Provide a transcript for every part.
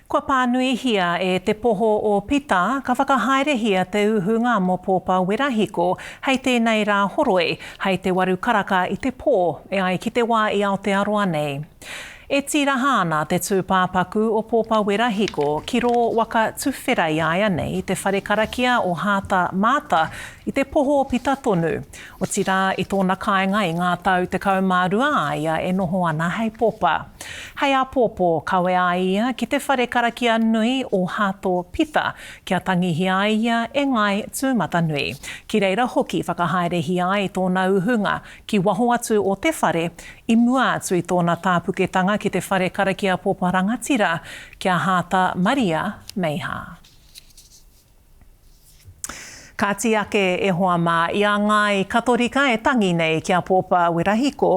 Kua pānuihia e Te Poho o Pita, ka whakahaerehia te uhunga mō Pōpa Werahiko hei tēnei rā horoi, hei te waru karaka i te pō, e ai ki te wā i Aotearoa nei. E tīraha ana te tūpāpaku o Pōpa Werahiko ki rō waka tuwhera i āianei i te whare karakia o Hāta Māta i Te Poho o Pita tonu, Otirā, i tōna kāinga i ngā tau tekau mā rua a ia e noho ana hei popa. Hei āpōpō, kawea ai ia ki te whare karakia nui o Hato Pita kia tangihia ai ia e Ngāi Tūmatanui. Ki reira hoki whakahaerehia ai tōna uhunga ki waho atu o te whare i mua atu i tōna tāpuketanga ki te whare karakia popa rangatira ki a Hāta Maria Meiha. Kāti ake e hoa mā, i a ngāi Katorika e tangi nei ki a Pōpā Werahiko,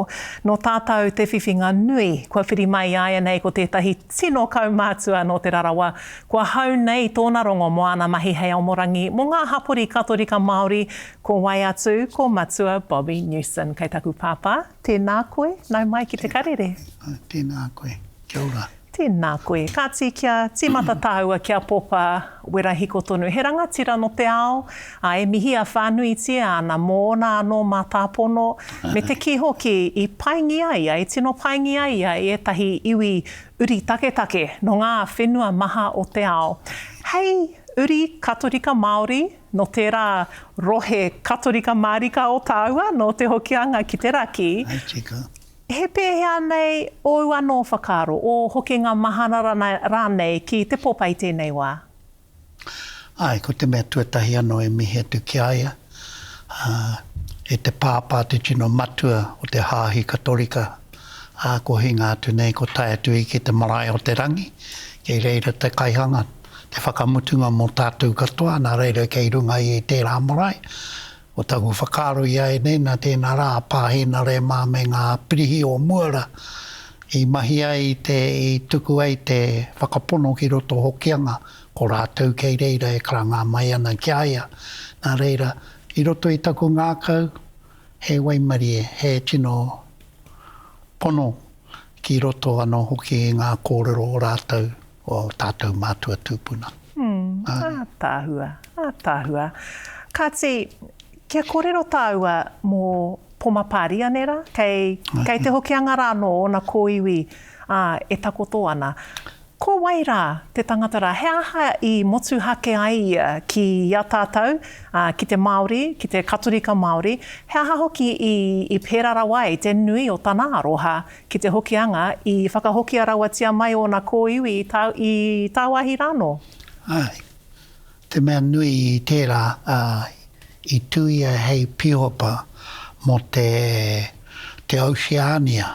nō tātau te whiwhinga nui. Kua whiri mai i āianei ko tētahi tino kaumātua nō Te Rarawa, kua hau nei tōna rongo mō āna mahi hei aomorangi mō ngā hapori Katorika Māori, ko wai atu ko Matua Bobby Newson. Kei taku pāpā, tēnā koe, nau mai ki te karere. Tēnā koe, kia ora. Tēnā koe. Kāti kia tīmata tāua ki a Popa Werahiko tonu. He rangatira nō te ao, ā, e mihi a whānuitia ana mōna anō mātāpono, me te kī hoki i paingia ia, i tino paingia ia i ētahi iwi uri taketake nō ngā whenua maha o te ao. Hei uri Katorika Māori nō tērā rohe Katorika mārika o tāua, nō Te Hokianga ki te raki, He pēhea nei ōu anō whakaaro, ō hokinga mahara rānei ki te popa i tēnei wā? Āe, ko te mea tuatahi anō e mihi atu ki a ia, e te Pāpā te tino matua o te Hāhi Katorika, ā, ko hinga atu nei, ko tae atu i ki te marae o te rangi, kei reira te kaihanga, te whakamutunga mō tātou katoa, nā reira kei runga i tērā marae, Ko taku whakaaro i a ēnei, nā tēnā rā a Pā Hēnare mā me ngā pirihi o mua rā i mahi ai i te, i tuku ai te whakapono ki roto o Hokianga, ko rātou kei reira e karanga mai ana ki a ia. Nā reira, i roto i taku ngākau, he waimarie, he tino pono ki roto anō hoki i ngā kōrero o rātou. o tātou mātua tūpuna. Ātaahua, ātaahua. Kāti, kia kōrero tāua mō Poma Pāria, nē rā? Kei, kei Te Hokianga rā anō ōna kōiwi, ā, e takoto ana. Ko wai rā te tangata rā? He aha i motuhake ai ia ki a tātou, ā, ki te Māori, ki te Katorika Māori? He aha hoki i, i pērā rawa ai te nui o tana aroha Ki te Hokianga, i whakahokia rawatia mai ōna kōiwi i tā, i tāwāhi rānō? Āe. Te mea nui i tērā, ā, i tū ia hei pīhopa mō te, te Oceania,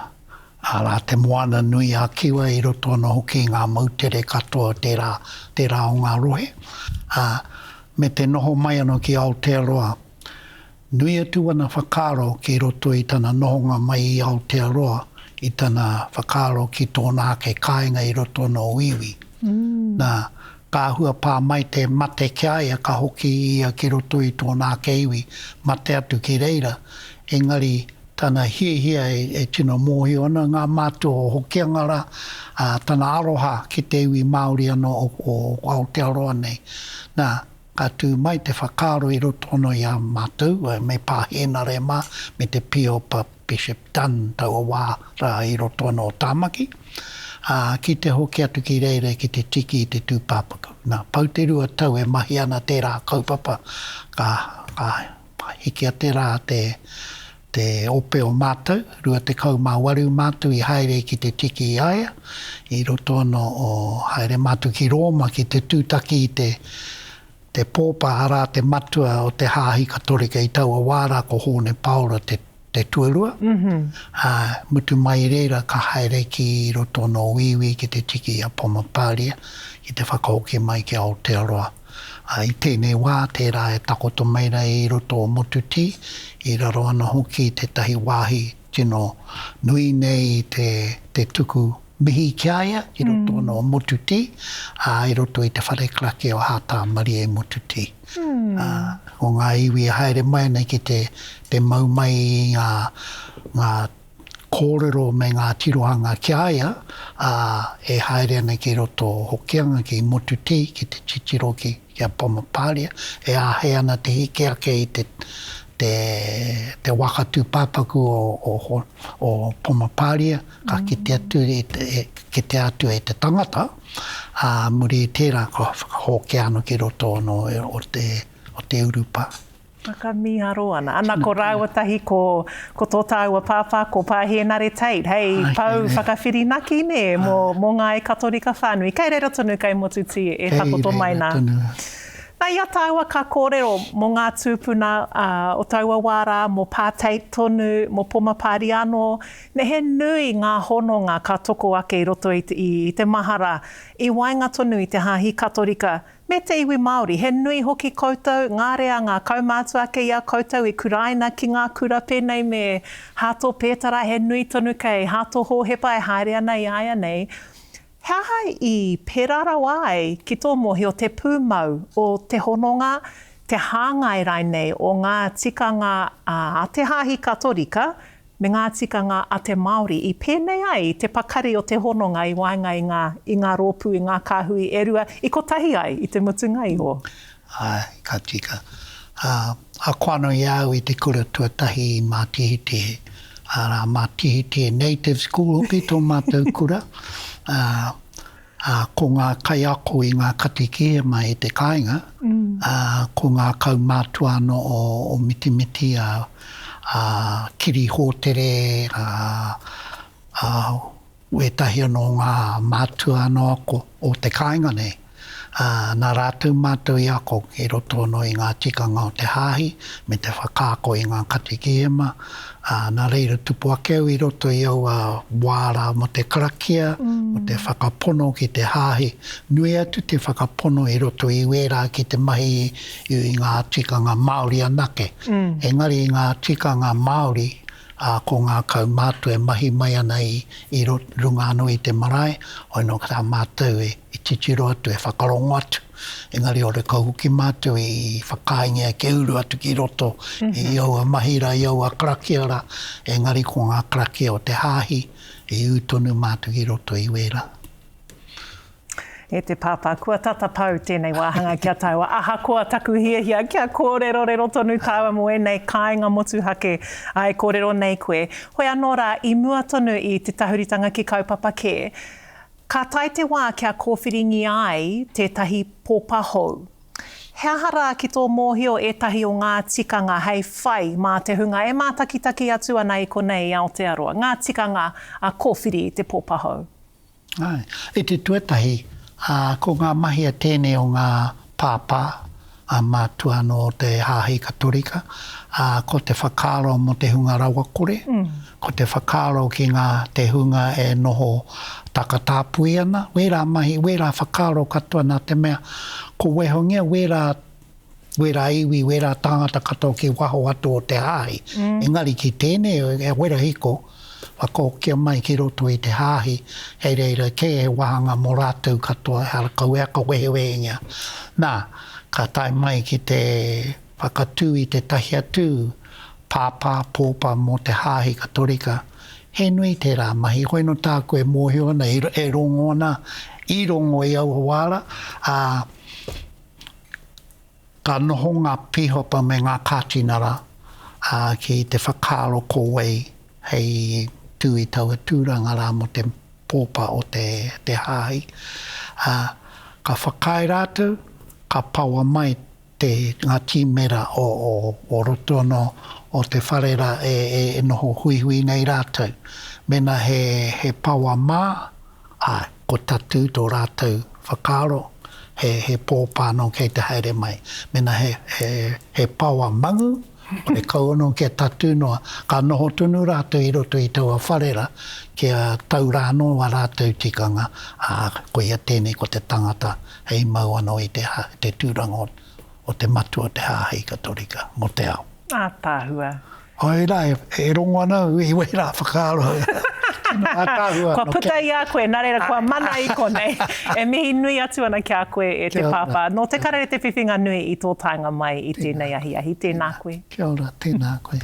arā, te moana nui a Kiwa i roto anō hoki i ngā moutere katoa o tērā, tērā o ngā rohe, ā, me te noho mai anō ki Aotearoa. Nui atu ana whakaaro ki roto i tana nohonga mai i Aotearoa i tana whakaaro ki tōna ake kāinga i roto nō Wīwī. Nā, ka āhua pā mai te mate ki a ia ka hoki ia ki roto i tōna ake iwi, mate atu ki reira. Engari, tana hiahia e tino mōhio ana ngā mātua o Hokianga rā, ā, tana aroha ki te iwi Māori anō o Aotearoa nei. Nā, Ka tū mai te whakaaro i roto anō i a mātou me Pā Hēnare mā, me te Pīopa Bishop Dunn taua wā rā i roto anō o Tāmaki, ā, ki te hoki atu ki reira ki te tiki i te tūpāpaku. Nā, pau te rua tau e mahi ana tērā kaupapa, ka, ka I hiki a te rā te te ope o mātou, rua tekau mā waru mātou i haere ki te tiki i a ia, i roto anō o haere mātou ki Rōma ki te tūtaki i te te pōpa arā te matua o te Hāhi Katorika i taua wā rā ko Hōne Paora te te tuarua, ā, mutu mai i reira ka haere ki roto o nō Wīwī ki te tiki i a Pomatāria ki te whakahoki mai ki Aotearoa. Ā, i tēnei wā, tērā e takoto mai nei i roto o Motutī, i raro ana hoki i tētahi wāhi tino nui nei i te tuku mihi ki a ia ki roto o nō Motutī, ā, i roto i te whare karaki o Hātāmarie i Motutī. o ngā iwi e haere mai ana ki te te mau mai i ngā ngā kōrero me ngā tirohanga ki a ia, ā, e haere ana ki roto o Hokianga, ki Motutī, ki te titiro ki ki a Pamapāria, e āhei ana te heke ake i te te te waka tūpāpaku o o o Pamapāria, ka kite atu i te kite atu e te tangata, ā, muri i tērā kua whakahōkea anō ki roto anō o te urupā. Whakamīharo ana. Ana ko rāua tahi ko tō tāua pāpā ko Pā Hēnare Tate, hei pou whakawhirinaki nē mō ngā e Katorika whānui. Kei reira tonu kei Motutī e takoto mai nā. Kei reira tonu. Nā, i a tāua ka kōrero mō ngā tūpuna o taua wā rā, mō Pā Tate tonu, mō Poma Pāriano, Me he nui ngā hononga ka toko ake i roto i te mahara, i waenga tonu i te Hāhi Katorika me te iwi Māori. He nui hoki koutou, ngā reanga kaumātua ake i a koutou i kuraina ki ngā kura pēnei me Hato Pētara, he nui tonu kei Hato Hōhepa e haere ana i āianei. He aha i pērā rawa ai ki tō mōhio te pūmau o te hononga, te hāngai rainei o ngā tikanga a te Hāhi Katorika me ngā tikanga a te Māori i pēnei ai i te pakari o te hononga i waenga i ngā rōpū, i ngā kāhui e rua i kotahi ai i te mutunga iho? Āe, ka tika. Ā, ako anō i a au i te kura tuatahi i Mātihitihe. Arā, Mātihitihe Native School hoki tō mātou kura. Ā, ā, ko ngā kaiako i ngā katikīia mai i te kāinga, ā, ko ngā kaumātua anō o, o Mitimiti, a, a Kiri Hōtere, a, a Wētahi anō o ngā mātua anō ako o te kāinga nei, ā, nā rātou mātou i ako ki roto anō i ngā tikanga o te hāhi me te whakaako i ngā katikihema, ā, nā reira tupu ake au i roto i aua wā rā mō te karakia, mō te whakapono ki te hāhi, nui atu te whakapono i roto i wērā ki te mahi i ngā tikanga Māori anake, engari i ngā tikanga Māori. ā, ko ngā kaumātua e mahi mai ana i, i runga anō i te marae, hoi nō tā mātou e, e titiro atu, e whakarongo atu, engari ore ka hoki mātou i whakaaengia kia uru atu ki roto i aua mahi rā, i aua karakia rā, engari ko ngā karakia o te Hāhi, i ū tonu mātou ki roto i wērā. E te Pāpā, kua tata pau tēnei wāhanga ki a tāua. Ahakoa taku hiahia kia kōrerorero tonu tāua mō ēnei kāinga motuhake e kōrero nei koe, hoi anō rā, i mua tonu i te tahuritanga ki kaupapa kē, ka tae te wā kia kōwhiringia ai tētahi popa hou. He aha rā ki tō mōhio ētahi o ngā tikanga hei whai mā te hunga e mātakitaki atu ana i konei i Aotearoa, ngā tikanga a kōwhiri i te popa hou? I te tuatahi, ko ngā mahi a tēnei o ngā pāpā, a mātua anō o te hāhi Katorika, ko te whakaaro mō te hunga rawakore, ko te whakaaro ki ngā te hunga e noho takatāpui ana, wērā mahi, wērā whakaaro katoa nā te mea ko Wēhongia wērā wera iwi, wera tāngata katoa ki waho atu o te hāhi. Engari ki tēnei o e wera hiko, whakahokia mai ki roto i te hāhi, hei reira kē he wāhanga mō rātou katoa, ehara kauea ka wehewehengia. Nā, ka tae mai ki te whakatū i tētahi atu pāpā, pōpa mō te hāhi Katorika, he nui tērā mahi, hoino tāku e mōhio ana, e rongo ana, i rongo i aua wāra, ā, Ka noho ngā pīhopa me ngā kātinara ki te whakaaro ko wai hei tū i taua tūranga rā mō te pōpa o te hāhi. Ka whakaae rātou, ka paoa mai ngā tīmera o roto anō o te whare rā e noho huihui nei rātou. Mēnā he paoa mā. Ā, ko tatū tō rātou whakaaro, he, he pōpā nō kei te haere mai. Mēnā he, he, he paoa mangu, kore kau anō kia tatū noa. Ka noho tonu rātou i roto i taua wharera, kia tau rā anō ā rātou tikanga, ā, koia tēnei ko te tangata hei mau anō i te, te tūranga o te Matua o te Hāhi Katorika mō te ao. Ataahua. Hoi ra e rongo ana i wera whakaaro. Kua puta i a koe, na reira kua mana i konei. E mihi nui atu ana ki a koe e te Pāpā. Nō te karere te whiwhinga nui i tō taenga mai i tēnei ahiahi. Tēnā koe. Kia ora, tēnā koe.